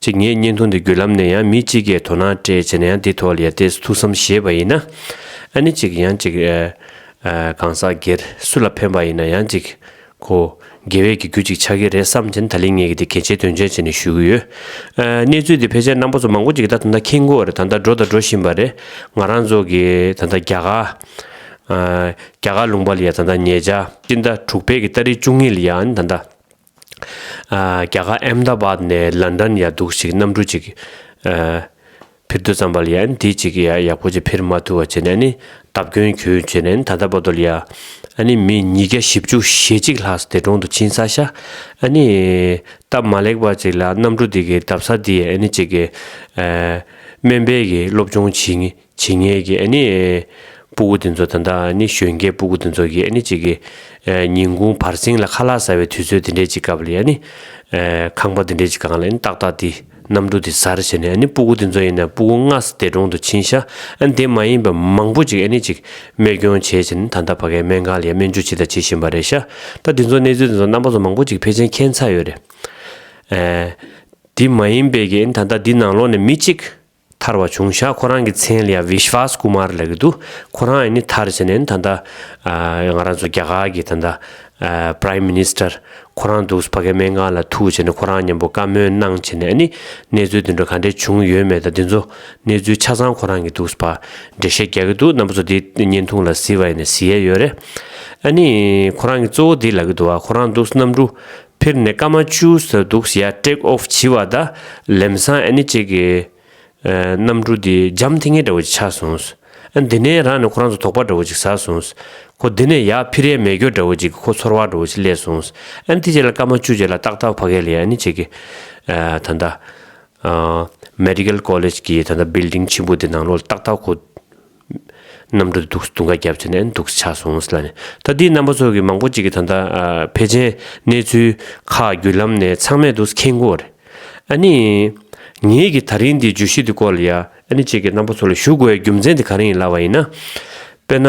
གཅིག་ངས་བརྙན་ཐུང་འདི་བརྒྱུད་ལམ་ནས་ཡང་མི་གཅིག་གིས་དོ་སྣང་སྤྲད་བྱས་ན་ཡང་འདི་ཐོག་ལ་ཡར་འདེད་ཐུགས་བསམ་བཞེས་པ་ཡིན། ཨ་ནི་གཅིག་ཡང་གཅིག། གང་ཟག་སྒེར་སུ་ལ་ཕན་པ་ཡིན་ན་ཡང་གཅིག་གོ། དགེ་བས་ཀྱི་རྒྱུ་གཅིག་ཆགས་ཀྱི་རེད་བསམ་བྱས་ན་ད་ལིས་ངས་ཀྱི་འདི་གལ་ཆེའི་དོན་ཆེན་བྱས་ནས་ཞུ་གི་ཡོད། གནས་ཚུལ་འདི་ཕལ་ཆེར་རྣམ་པ་ཚོ་མང་པོ་གཅིག་གི་ད་ད་ཁྱེད་མགོ་རེད་ད་ད་འགྲོ་ད་འགྲོ་བཞིན་པ་རེད། ང་རང་ཚོ་གི་ད་ད་རྒྱ་གར། རྒྱ་གར་ལུང་པ་ལ་ཡང་ད་ད་ཉེ་ཆ། སྤྱི་ཟླ་དྲུག་པའི་གི་སྟ་རེ་བཅུ་གཉིས་ལ་ཡང་ད་ད། རྒྱ་གར་ཨེམ་རྡ་བཱད་ནས་ལན་དྲན་ཡ་འདུག་ཞིག་གནམ་གྲུ་ཅིག་ཕིར་འདུག་ཙམ་པ་ལ་ཡ་ནི་དེ་ཅིག་ཡ་ཡག་པོ་ཅིག་ཕིར་མ་ཐུག་བ་བྱས་ནས་ནི་བརྡབ་སྐྱོན་གྱོད་བྱས་ནས་ནི་ད་ལྟ་བ་དོ་ལ་ཡ་ཨ་ནི་མི་ཉིས་བརྒྱ་བཞི་བཅུ་ཞེ་གཅིག་ལྷག་སི་དེ་གྲོང་དུ་ཕྱིན་ས་ཤ་ཨ་ནི་སྟབས་མ་ལེགས་པ་ཅིག་ལ་གནམ་གྲུ་དེ་གི་བརྡབ་ས་དེ་ཡ་ཨ་ནི་ཅིག་གི་སྨན་པའི་གི་སློབ་སྦྱོང་བྱིས་ངེས། ཇི་སྙེད་ཀྱི་ཨ་ནི་སྤུ་གུ་དེ་ཚོ་ད་ལྟ་ཨ་ནི་གཞོན་སྐྱེས་སྤུ་གུ་དེ་ཚོ་ཀྱིས་ཨ་ནི་གཅིག་གི་ཉིན་གུང་བར་གསེང་ལ་ཁ་ལག་ཟ་བའི་དུས་ཚོད་དེ་འདྲའི་གཅིག་སྐབས་ལ་ཡ་ནི་ཁང་པ་དེ་འདྲའི་གཅིག་གང་ལ་ཨ་ནི་ཏག་ཏག་དེ་གནམ་གྲུ་དེ་ཟར་བྱས་ནས་ཨ་ནི་སྤུ་གུ་དེ་ཚོ་ཡིན་ན་སྤུ་གུ་སྔ་ས་དེ་གྲོང་དུ་ཕྱིན་ཤག་ཨ་ནི་དེ་མ་ཡིན་པ་མང་པོ་གཅིག་ཨ་ནི་གཅིག་རྨས་སྐྱོན་བྱས་བྱས་ནས་ད་ལྟ་བ་གའི་སྨན་ཁང་ལ་ཡ་སྨན་བཅོས་བྱེད་དང་བྱེད་བཞིན་པ་རེད་ཤག་ད་དེ་ཚོ་གནས་ཚུལ་དེ་ཚོ་རྣམ་པ་ཚོ་མང་པོ་གཅིག་ཕལ་ཆེན་མཁྱེན་ཚར་ཡོད་རེད། དེ་མ་ཡིན་པའི་ཀྱི་ཨ་ནི་ད་ལྟ་འདི་ནང་ལོགས་ནས་མི་གཅིག་ཐར་བ་བྱུང་ཤག་ཁོ་རང་གི་མཚན་ལ Vishwas Kumar ལ་གི་འདུག་ཁོ་རང་ཡིན་ནི་ཐར་བྱས་ནས་ད་ལྟ་ང་རང་ཚོ་རྒྱ་གར་གི་ད་ལྟ Prime Minister ཁོ་རང་འདུག་ཕ་གའི་སྨན་ཁང་ལ་ཐུག་བྱས་ནས་ཁོ་རང་མཉམ་པོ་བཀའ་མོལ་གནང་བྱས་ནས་ནི་གནས་ཚུལ་དེ་འདྲ་ག་འདྲ་བྱུང་ཡོད་མེད་ད་འདི་ཚོ་གནས་ཚུལ་ཆ་ཚང་ཁོ་རང་གི་འདུག་ཕ་འདྲེ་ཤེས་རྒྱག་གི་འདུག་རྣམ་པ་ཚོ་འདི་བརྙན་ཐུང་ལ་གཟིགས་པ་ཡིན་ནི་གཟིགས་ཡས་ཡོད་རེད་ཨ་ནི་ཁོ་རང་གི་གཙོ་བོ་འདི་ལ་གི་འདུག་ཁོ་རང་འདུག་གནམ་གྲུ་ཕེར་ནེ་ཀ་མ་ཅུ་ཟ་འདུག་ཞེ་ཡ་ཀྲེག་ཨོ་བྱི་བ་ད་ལེམ་སང་ཨེ་ནི་ཅེ་གི། གནམ་གྲུ་འདི་འཇམ་ཐིང་ངེ་འདྲ་བོ་ཅིག་ཆགས་སོང། ཨ་འདི་ནས་རང་ནི་ཁོ་རང་ཚོ་དོག་པ་འདྲ་བོ་ཅིག་ཟ་སོང། ཁོ་འདི་ནས་ཡག་ཕི་རའི་མེ་སྒྱོགས་འདྲ་བོ་ཅིག་གི་ཁོ་ཚོར་བ་འདྲ་བོ་ཅིག་སླེ་སོང། ཨ་འདི་ཅེ་ལ་ཀ་མ་ཅུ་ཅེ་ལ་ཏག་ཏག་ཕ་གེ་ལི་ཨེ་ནི་ཅེ་གི། ད་ལྟ། Medical College གི་ད་ལྟ Building ཆེན་པོ་འདི་ནང་ལོག་ལ་ཏག་ཏག་ཁོ། གནམ་གྲུ་འདུག་ཟ་འདུག་འགའ་བརྒྱབ་བྱས་ནས་འདུག་ཆགས་སོང་ལ་ནི་ད་འདིའི་རྣམ་པ་ཚོ་གི་མང་པོ་ཅིག་གི་ད་ལྟ་ཕལ་ཆེན་གནས་ཚུལ་ཁག་བརྒྱུད་ལམ་ནས་ཚང་མས་འདུག་མཁན་དགོས་རེད་ཨ་ནི། ངེད་ཀྱིས་ད་རིང་འདིའི་བརྗོད་གཞི་འདི་སྐོར་ལ་ཡ་ཨ་ནི་བཅས་ཀྱི་རྣམ་པ་ཚོ་ལ་ཞུ་དགོས་ཡའི་རྒྱུ་མཚན་དེ་ག་རེ་ཡིན་ལབ་པ་ཡིན་ན། དཔེར་ན།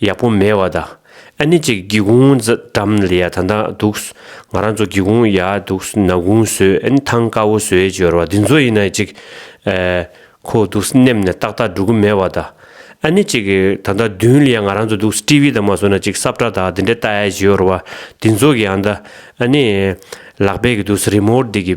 ཡག་པོ་མེད་བ་དང་ཨ་ནི་ཅིག་སྒེའུ་ཁུང་འགྲམ་ལ་ཡ་ད་འདང་འདུག་ང་རང་ཚོ་སྒེའུ་ཁུང་ཡ་འདུག་ན་གུང་བཟོས་ཨ་ནི་ཐང་དཀར་བོ་བཟོས་སྦྱོར་བ་འདི་ཚོ་ཡིན་ན་ཅིག་ཁོ་འདུག་སྣེམས་ནས་ཏག་ཏག་འགྲོ་གི་མེད་བ་དང་ཨ་ནི་ཅིག་ད་ལྟ་མདུན་ལ་ཡ་ང་རང་ཚོ་འདུག་ཏི་བི་དང་མ་བཟོས་ན་ཅིག་སྲབ་ཁྲ་དག་འདི་འདྲ་ལྟ་ཡ་སྦྱོར་བ་འདི་ཚོ་གི་ཡང་ད་ཨ་ནི་ལག་པས་གི་འདུག་རི་མོར་འདི་གི་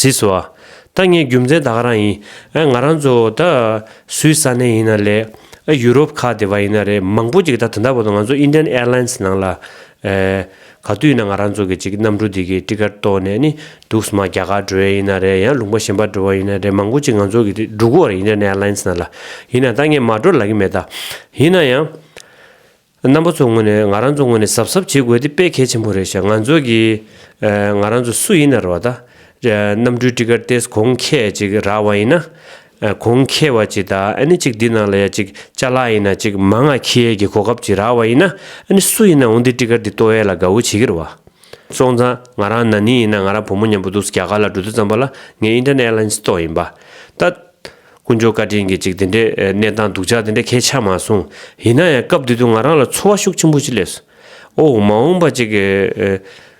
ཟིས་བ། ད་ངའི་རྒྱུ་མཚན་ད་ག་རང་ཡིན། ཨ་ང་རང་ཚོ་ད་སུའི་ས་གནས་ཡིན་ན་ལས། ཨ་ཡུ་རོབ་ཁག་དེ་བ་ཡིན་ན་རེད་མང་པོ་ཅིག་ད་དེ་འདྲ་བོ་དང་ང་ཚོ Indian Airlines ནང་ལ། ག་དུས་ན་ང་རང་ཚོ་གི་ཅིག་གནམ་གྲུ་འདི་གི་སྤྲི་དཀར་གཏོར་ནས་ནི་འདུག་སྨྲ་རྒྱ་གར་འགྲོ་ཡས་ཡིན་ན་རེད་ཡང་ལུང་པ་གཞན་པར་འགྲོ་བ་ཡིན་ན་རེད་མང་པོ་ཅིག་ང་ཚོ་གི་འགྲུ་གུ་བར་ཡིན་ན Netherlands ན་ལ་ཡིན་ན་ད་ངས་མ་འགྲོ་ལ་གི་མེད་ད། ཡིན་ན་ཡང། རྣམ་པ་ཚོ་ངོ་ནས་ང་རང་ཚོ་ངོ་ནས་གཟབ་གཟབ་བྱེད་དགོས་དེ་དཔེ་གལ་ཆེན་པོ་རེད་ཤག་ང་ཚོ་གི་ང་རང་ཚོ་སུ་ཡིན་ན་རོ་ད་གནམ་གྲུའི་སྤྲི་དཀར་སྟེར་གོང་ཁྱེད་ཅིག་རག་བ་ཡིན་ན་གོང་ཁེ་བ་ཅི་ད་ཨཱནི་ཅིག་འདི་ནང་ལ་ཡ་ཅིག་ཅཱ་ལ་ཡིན་ན་ཅིག་མ་ང་ཁི་ཡའི་གི་གོ་སྐབས་ཅིག་རག་བ་ཡིན་ན་ཨཱནི་སུ་ཡིན་ན་འོང་འདི་ཏི་ཀར་འདི་ཏོ་ཡའི་ལ་དགའ་བོ་བྱེད་གི་ར་བ། སོང་ཙང་ང་རང་ན་ནིང་ཡིན་ན་ང་རང་བུ་མོ་མཉམ་པོ་འདུག་སི་རྒྱ་གར་ལ་འགྲོ་དུས་ཙམ་པ་ལ་ངའི་ཨིན་ཏར་ནེ་ཨེར་ལཱིན་སི་ཏོག་ཡིན་པ། ད། དཀོན་མཆོག་བཀའ་དྲིན་གྱིས་ཅིག་འདི་འདྲའི་གནས་སྟངས་སྡུག་ཅག་འདི་འདྲ་གས་ཆག་མ་སོང། ཡིན་ན་ཡང་སྐབས་འདི་དུས་ང་རང་ལ་འཚོ་བ་ཤུགས་ཆེན་པོ་ཅིག་སླེབས་སོ། ཨོའོ་མ་འོངས་པ་ཅིག།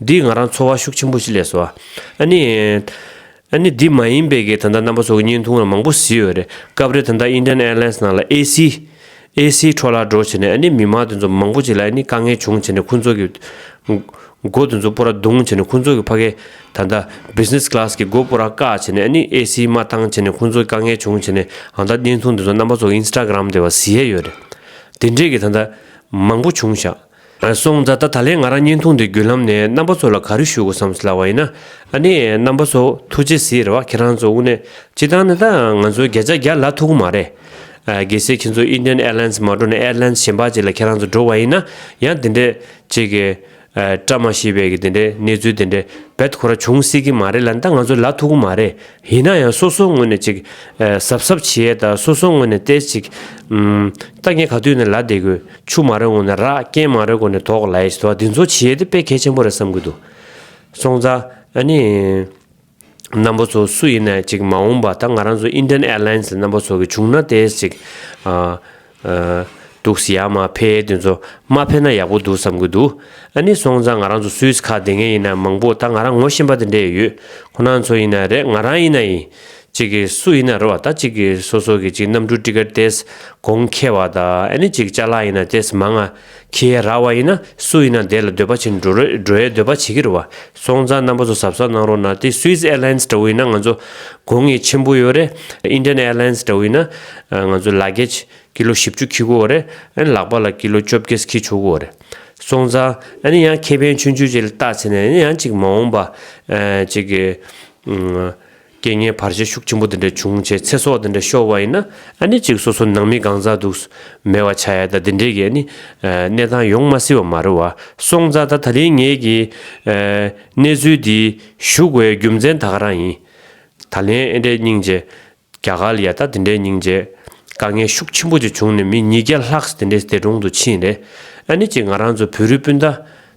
འདིས་ང་རང་ཚོར་བ་ཤུགས་ཆེན་པོ་ཞིག་ལས་སོ། ཨ་ནི། ཨ་ནི་འདི་མ་ཡིན་པའི་གེ་ད་ལྟ་རྣམ་པ་ཚོ་གི་བརྙན་ཐུང་ལ་མང་པོ་བཟི་ཡོད་རེད་སྐབས་རེ་ད་ལྟ Indian Airlines ནང་ལ AC། AC། འཕྲོ་བརླག་འགྲོ་བྱེད་ནས་ཨ་ནི་མི་མང་དེ་ཚོ་མང་པོ་ཅིག་ལ་ཨ་ནི་དཀའ་ངལ་བྱུང་བྱེད་ནས་ཁོང་ཚོ་གི། སྒོ་དེ་ཚོ་སྤོ་ར་རྡུང་བྱེད་ནས་ཁོང་ཚོ་གི་ཕ་གེ་ད་ལྟ Business Class གི་སྒོ་སྤོ་ར་བཀག་བྱེད་ནས་ཨ་ནི AC མ་བཏང་བྱེད་ནས་ཁོང་ཚོ་གི་དཀའ་ངལ་བྱུང་བྱེད་ནས་ཨང་ད་བརྙན་ཐུང་དེ་ཚོ་རྣམ་པ་ཚོ་གི Instagram དེ་བ་བཟི་ཡས་ཡོད་རེད་དེ་འདྲས་གི་ད་ལྟ་མང་པོ་བྱུང་བཞག་སོང་རྫ་ད་ད་ལན་ང་རང་བརྙན་ཐུང་འདི་བརྒྱུད་ལམ་ནས་རྣམ་པ་ཚོ་ལ་ག་རེ་ཞུ་དགོས་བསམ་སླ་བ་ཡིན་ན་ནི་རྣམ་པ་ཚོ་ཐུགས་རྗེ་གཟིགས་རེ་བ་ཁྱེད་རང་ཚོ་དབུ་ནས་སྤྱི་བཏང་ནི་ད་ང་ཚོའི་རྒྱ་ཅག་རྒྱ་ལ་ཐུག་གི་མ་རེད་གལ་སྲིད་ཁྱེད་ཚོ Indian Airlines མ་འགྲོ་ནས Airlines གཞན་པ་ཅིག་ལ་ཁྱེད་རང་ཚོ་འགྲོ་བ་ཡིན་ན་ཡང་དེ་འདྲའི་ཅིག་གི་བཀྲ་མ་ཤིས་པའི་གི་དེ་འདྲའི་གནས་ཚུལ་དེ་འདྲའི་བེད་ཁོ་ར་བྱུང་སྲིད་གི་མ་རེད་ལ་ནི་ད་ང་ཚོ་ལ་ཐུག་གི་མ་རེད་ཡིན་ན་ཡང་སོ་སོ་ངོས་ནས་ཅིག་གཟབ་གཟབ་བྱེད་ད་སོ་སོ་ངོས་ནས་ཏེ་ཅིག་ད་ངས་ག་དུས་ནས་ལ་བསྡད་དགོས། ཆུ་མ་རེག་གོང་ནས་རག་རྐྱེན་མ་རེག་གོང་ནས་དོགས་ལ་ཡིས་དོགས་འདི་ཚོ་བྱེད་དེ་དཔེ་གལ་ཆེན་པོ་རེད་བསམ་གི་འདུག་སོང་ཙང་ཨ་ནི་རྣམ་པ་ཚོ་སུ་ཡིན་ནས་ཅིག་མ་འོངས་པ་ད་ང་རང་ཚོ Indian Airlines རྣམ་པ་ཚོ་གི་བྱུང་ན་དེ་ཅིག་འདུག་སི་ཡར་མ་ཕེ་དེ་ཚོ་མ་ཕེ་ན་ཡག་པོ་འདུག་བསམ་གི་འདུག་ཨ་ནི་སོང་ཙང་ང་རང་ཚོ Swiss ཁ་དེ་ངས་ཡིན་ན་མང་པོ་ད་ང་རང་ངོ་ཤེས་པ་དེ་འདྲས་ཡོད་ཁོ་ན་ཚོ་ཡིན་ན་རེད་ང་རང་ཡིན་ན་ཡིན་གཅིག་གིས་སུ་ཡིན་ན་རོ་བ་དང་གཅིག་གིས་སོ་སོ་གི་གཅིག་རྣམ་དྲུག་ཀྲི་ཀར་ཏེས་གོང་ཁེ་བ་དང་ཨ་ནི་གཅིག་ལྕགས་ལ་ཡིན་ན་ཏེས་མ་ལྔ་ཁེས་ར་བ་ཡིན་ན་སུ་ཡིན་ན་དེ་ལ་འདོད་པ་བྱིན་འགྲོ་རོས་འགྲོ་ཡའི་འདོད་པ་བྱེད་ཀྱི་རོ་བ་སོང་ཙང་རྣམ་པ་ཚོ་ཟབ་ཟབ་གནང་རོགས་གནང་དེ Swiss Airlines འདྲ་བོ་ཡིན་ན་ང་ཚོ་དགོས་ངེས་ཆེན་པོ་ཡོད་རེད Indian Airlines འདྲ་བོ་ཡིན་ན་ང་ཚོ Luggage ཀི་ལོ་བཞི་བཅུ་ཁི་དགོས་རེད་ཨ་ནི་ལག་པ་ལ་ཀི་ལོ་བཅོ་བརྒྱད་ཁི་ཆོག་གོ་རེད་སོང་ཙང་ཨ་ནི་ཡང་ཁེ་ཕན་ཆུང་ཆུང་ཅིག་ལ་བཏགས་ཚེ་ནས་ཡང་གཅིག་མ་འོངས་པ་གཅིག་རྐྱེན་ངན་བར་ཆད་ཤུགས་ཆེན་པོ་འདི་འདྲ་བྱུང་བྱས་ཚེ་སྲོག་འདི་འདྲ་ཤོར་བ་ཡིན་ན་ཨ་ནི་གཅིག་སོ་སོ་ནང་མི་གང་ཟག་འདུག་མེད་བ་ཆགས་ཡ་ད་འདི་འདྲའི་གི་ཨ་ནི་གནས་སྟངས་ཡོང་མ་སྲིད་བ་མ་རེད་བ་སོང་ཙང་ད་ད་རིང་ངས་གི་གནས་ཚུལ་འདི་ཞུགས་བའི་རྒྱུ་མཚན་ད་ག་རང་ཡིན་ད་ལན་ཨེ་འདྲའི་སྙིང་རྗེ་རྒྱ་གར་ལ་ཡ་ད་འདི་འདྲའི་སྙིང་རྗེ་དཀའ་ངལ་ཤུགས་ཆེན་པོ་ཅིག་བྱུང་ནས་མི་ཉིས་བརྒྱ་ལྷག་འདི་འདྲའི་འདས་གྲོང་དུ་ཕྱིན་རེད་ཨ་ནི་གཅིག་ང་རང་ཚོ་བོད་རིགས་སྤུན་ཟླ་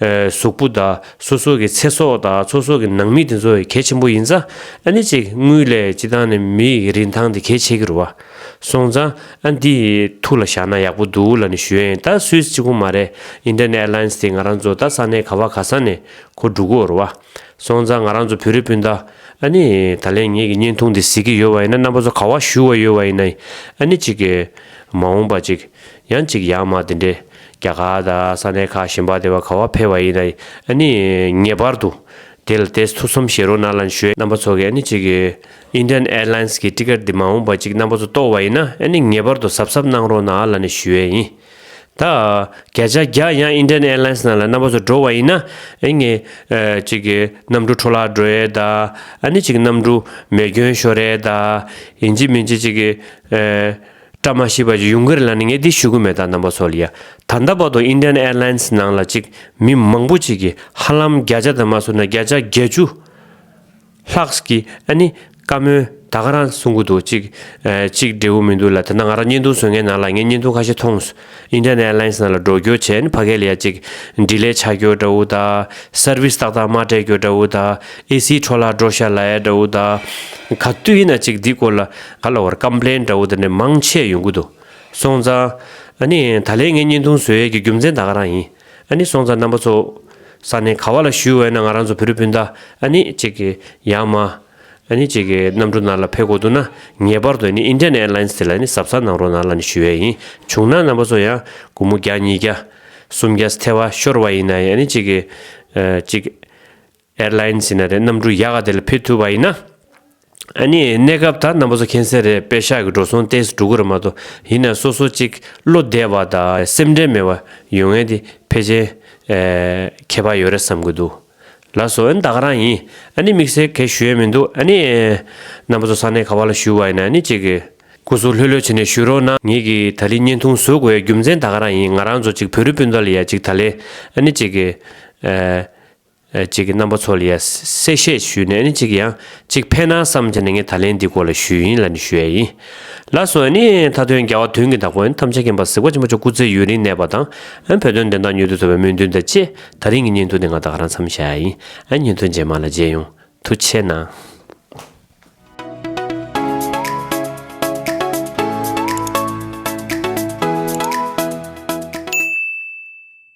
གཟུགས་པོ་དག་སོ་སོ་གི་ཚེ་སྲོག་དག་སོ་སོ་གི་ནང་མི་དེ་ཚོ་གལ་ཆེན་པོ་ཡིན་ཙང་ཨ་ནི་ཅིག་དངུལ་ལས་ཅི་ཐང་ནི་མི་ཡི་རིན་ཐང་དེ་གལ་ཆེ་གི་རུ་བ་སོང་ཙང་ཨ་འདི་ཐུགས་ལ་བཞག་ན་ཡག་པོ་འདུག་ལ་ནི་ཞོན་ད་སུས་ཅི་གོ་མ་རེད Indian Airlines དེ་ང་རང་ཚོ་ད་ས་ནས་ག་བ་ག་ས་ནས་གོ་འགྲུག་གོ་རུ་བ་སོང་ཙང་ང་རང་ཚོ་བོད་རི་སྤུན་ཟླ་ཨ་ནི་ད་ལན་ངེད་ཀྱི་བརྙན་ཐུང་དེ་གཟིགས་ཀྱི་ཡོད་བ་ཡིན་ན་རྣམ་པ་ཚོ་ག་བ་ཞུ་བ་ཡོད་བ་ཡིན་ན་ཨ་ནི་ཅིག་མ་འོངས་པ་ཅིག་ཡང་ཅིག་ཡག་མ་དེ་འདྲས་རྒྱ་གར་དང་ས་གནས་ཁག་གཞན་པར་དེ་བ་ག་བ་འཕེལ་བ་ཡིན་ན་ནི་ངེས་པར་དུ་དེ་ལ་དེས་ཐུགས་བསམ་བཞེས་རོགས་གནང་ལན་ཞུ། རྣམ་པ་ཚོ་གིས་ནི་གཅིག Indian Airlines གི Ticket དེ་མ་འོངས་པར་གཅིག་རྣམ་པ་ཚོ་གཏོར་བ་ཡིན་ན་ནི་ངེས་པར་དུ་གཟབ་གཟབ་གནང་རོགས་གནང་ལ་ནི་ཞུ་ཡས་ཡིན། ད་གས་ཆ་རྒྱ་ཡང Indian Airlines ནང་ལ་རྣམ་པ་ཚོ་འགྲོ་བ་ཡིན་ན་ནི་གཅིག་གནམ་གྲུ་འཕྲོ་བརླག་འགྲོ་ཡས་ད་ནི་གཅིག་གནམ་གྲུ་མེ་སྐྱོན་ཤོར་ཡས་ད་ཡིན་གཅིག་མིན་གཅིག་གཅིག་བཀྲ་མ་ཤིས་པ་ཅིག་ཡུང་ཀེར་ལ་ནི་ངས་འདི་ཞུ་གི་མེད་ད་ནམ་བ་སོ་ལི་ཡ་ད་ལྟ་བར་དུ Indian Airlines ནང་ལ་ཅིག་མི་མང་པོ་ཅིག་གིས་ཧ་ལམ་བརྒྱ་ཆ་ད་མ་སོ་ན་བརྒྱ་ཆ་བརྒྱད་ཅུ་ལྷག་གིས་ཨ་ནི་བཀའ་མོལ་ད་ག་རང་གསུང་གི་འདུག་ཅིག་ཅིག་འབྲས་བུ་མི་འདུག་ལ་དེ་ན་ང་རང་བརྙན་ཐུང་བཟོ་མཁན་ནང་ལ་ངས་བརྙན་ཐུང་ཁ་ཤས་མཐོང། Internet Airlines ནང་ལ་སྒྲོག་སྐྱོར་བྱས་ནས་ཕ་གའི་ལས་གཅིག། འབྲི་ལས་ཆ་སྐྱོར་དགྲ་བོ་དག། Service ཏག་ཏག་མ་སྤྲད་སྐྱོར་དགྲ་བོ་དག། AC འཕྲོ་བརླག་འགྲོ་ཤ་ལ་ཡ་དགྲ་བོ་དག། ག་དུས་ཡིན་ན་གཅིག་འདི་སྐོར་ལ་ག་ལ་བར Complain དགྲ་བོ་དག་ནི་མང་ཆེས་ཡོང་གི་འདུག་སོང་ཙང། ཨ་ནི་ད་ལེ་ངའི་བརྙན་ཐུང་བཟོས་ཡས་ཀྱི་རྒྱུ་མཚན་དག་ག་རང་ཡིན། ཨ་ནི་སོང་ཙང་རྣམ་པ་ཚོ། ས་ནི་ག་བ་ལ་བཞུས་འོས་ན་ང་རང་ཚོ་བུ་རུ་སྤུན་ཟླ་ཨ་ནི་གཅིག། ཡང་མ། ལ་ནི་གཅིག་གིས་གནམ་གྲུ་ནར་ལ་ཕེབས་དགོས་འདུག་ན་ངེས་པར་དུ་ནི Indian Airlines དེ་ལ་ནི་གཟབ་གཟབ་གནང་རོགས་གནང་ལ་ནི་ཞུ་ཡས་ཡིན་བྱུང་ན་རྣམ་པ་ཚོ་ཡང་དགུ་མོ་བརྒྱ་གཉིས་བརྒྱ་གསུམ་བརྒྱ་སི་ཐེ་བ་ཤོར་བ་ཡིན་ན་ཡང་ནི་གཅིག་གིས་གཅིག Airlines ཡིན་ན་རེད་གནམ་གྲུ་ཡག་ག་དེ་ལ་ཕེབས་ཐུབ་པ་ཡིན་ན་ཨ་ནི་གནས་སྐབས་ད་རྣམ་པ་ཚོ་མཁྱེན་གསལ་རེད་པེ་ཤག་གི་འགྲོ་སོང་ཏེས་འགྲུ་གུ་ར་མ་གཏོགས་ཡིན་ན་སོ་སོ་གཅིག་བློ་བདེ་བ་དང་སེམས་ཁྲལ་མེད་པ་ཡོད་ངེས་དེ་ཕེ་ཆེན་ཁྱད་པ་ཡོད་རེད་བསམ་གི་འདུག། ལ་སོ་ཨན་ད་ག་རང་ཡིན་ཨ་ནི་དམིགས་བསལ་གས་ཞུ་ཡས་མིན་འདུག་ཨ་ནི། རྣམ་པ་ཚོ་ས་གནས་ག་བ་ལ་ཞུ་བ་ཡིན་ན་ནི་ཅིག། སྐུ་གཟུགས་ལྷོད་ལྷོད་བྱེད་ནས་ཞུ་རོགས་གནང། ངེད་ཀྱིས་ད་ལི་བརྙན་ཐུང་བཟོ་དགོས་ཡས་རྒྱུ་མཚན་ད་ག་རང་ཡིན་ང་རང་ཚོ་ཅིག་བོད་རི་སྤུན་ཟླ་ལ་ཡས་ཅིག་ད་ལི་ཨ་ནི་ཅིག། ཅིག་རྣམ་པ་ཚོ་ལ་ཡས་གསལ་བཤད་ཞུས་ནས་ཨ་ནི་ཅིག་ཡང་ཅིག་ཕན་ནང་བསམ་བྱས་ནས་ངས་ད་ལན་འདི་སྐོར་ལ་ཞུས་ཡིན་ལ་ནི་ཞུ་ཡས་ཡིན། ལ་སོ་ཨ་ནི་མཐའ་དོན་རྒྱ་བ་དོན་གྱི་ད་གོ་ཨན་ཐམས་ཅད་མཁྱེན་པ་གཟིགས་པ་ཆེན་པོ་མཆོག་སྐུ་ཚེ་ཡུན་རིང་གནས་པ་དང་ཨན་བོད་དོན་བདེན་མཐའ་མྱུར་དུ་འཚོ་བའི་སྨོན་འདུན་དང་བཅས། ད་རིང་གི་བརྙན་ཐུང་དེ་ང་དག་རང་འཚམ་བཞག་ཡ་ཡིན། ཨ་བརྙན་ཐུང་རྗེས་མ་ལ་མཇལ་ཡོང། ཐུགས་ཆེ་གནང།